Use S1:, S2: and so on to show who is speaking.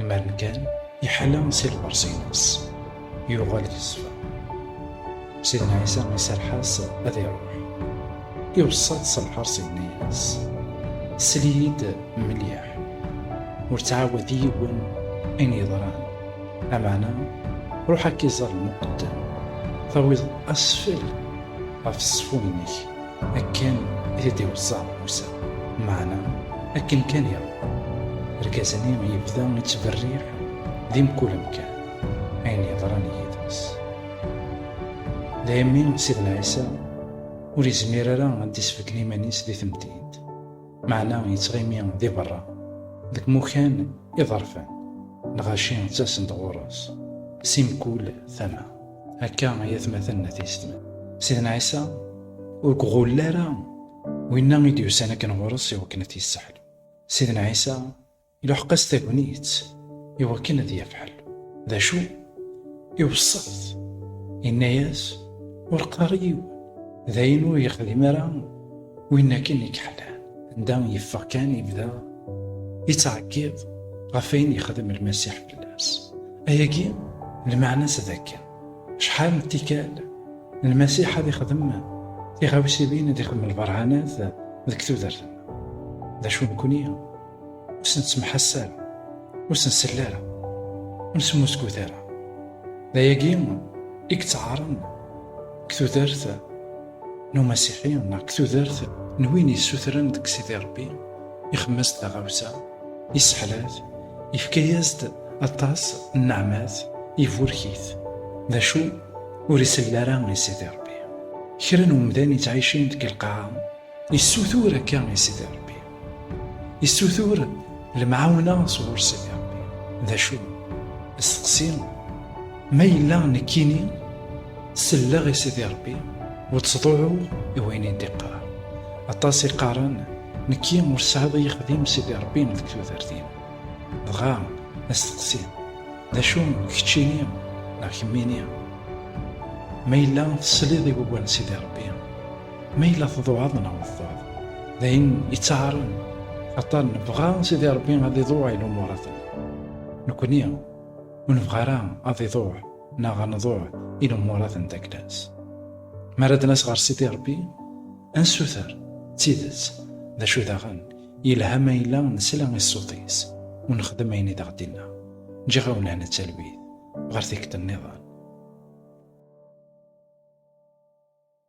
S1: Imar kan iḥala si lqers-ines, yuɣal yeṣfa. Sidna Ɛisa iserreḥ-as ad iruḥ. Iweṣṣa-t s lḥers yenna-yas, Sel-iyi-d mliḥ, ur ttɛawad i yiwen ayen yeḍran, ameɛna ruḥ akka iẓer lmuqeddem, tawiḍ asfel ɣef ṣṣfun-nnek. akken i t-id-iweṣṣa Musa, meɛna akken kan iṛuḥ, argaz-nni yebda yettberriḥ di mkul amkan, ayen yeḍran yid-s. Daymi Sidna Ɛisa ur yezmir ara ad d-isbedden iman-is di temdint, meɛna yettɣimi di beṛṛa, deg imukan iḍerfan, lɣaci ttasen-d ɣur-s si mkul tama. Akka ay atmaten n ateistem. Sidna Ɛisa ur gɣull ara winna i d-yusan akken ɣur-s i wakken ad t-yesseḥlu. Sidna Ɛisa iluḥeq-as tagnit i wakken ad yaf ḥellu. D acu? Iweṣṣa-t, inna-as, Ur qqar i yiwen, d ayen ur yexdim ara win akken i k-ḥlan. Anda yeffeɣ kan yebda yettɛeggiḍ ɣef wayen yexdem Lmasiḥ. fell-as. Ayagi lmeɛna-s d akken, acḥal n tikkal lmasiḥ ad ixdem tiɣawsiwin ad ixdem lberhanat deg tudert d acu nekni ur sen-ttemḥass ara ur sen-sell ara ur smusgut ara d ayagi i yettɛaren deg tudert n umasiḥi neɣ deg tudert n win yessutren deg Sidi Rebbi, ixemmes taɣawsa, isseḥlat, yefka-as-d aṭas n nneɛmat, iburek-it, d acu ur isell ara i Sidi Rebbi. Kra n umdan yettɛicin deg lqaɛa, yessutur akka i Sidi Rebbi. Yessutur lemɛawna sɣur-sen i Rebbi. D acu? Steqsi, ma yella nekkini selleɣ i Sidi Rebbi ur ttḍuɛuɣ i wayen i d-iqqar. Aṭas i qqaren nekki ur sɛiḍ i yexdim Sidi Rebbi deg tudert-im. Dɣa asteqsi, d acu keččini neɣ kemmini? Ma yella tesliḍ i wawal n Sidi Rebbi, Ma yella tḍuɛeḍ neɣ meqqreḍ, d ayen ittɛaren aṭan nebɣa Sidi Rebbi ad iḍuɛ i lumurat-nneɣ. Nekkni ur nebɣi ara ad iḍuɛ neɣ ad nḍuɛ i lumurat n takla-s. Mi ara d-nas ɣer Sidi Rebbi, ad nsuter d tidet, d acu daɣen, yelha ma yella nesla i ṣṣut-is u nexdem ayen i d-aɣ-d-inna. Ǧǧiɣ-awen lehna d talwit ɣer tikkelt-nniḍen.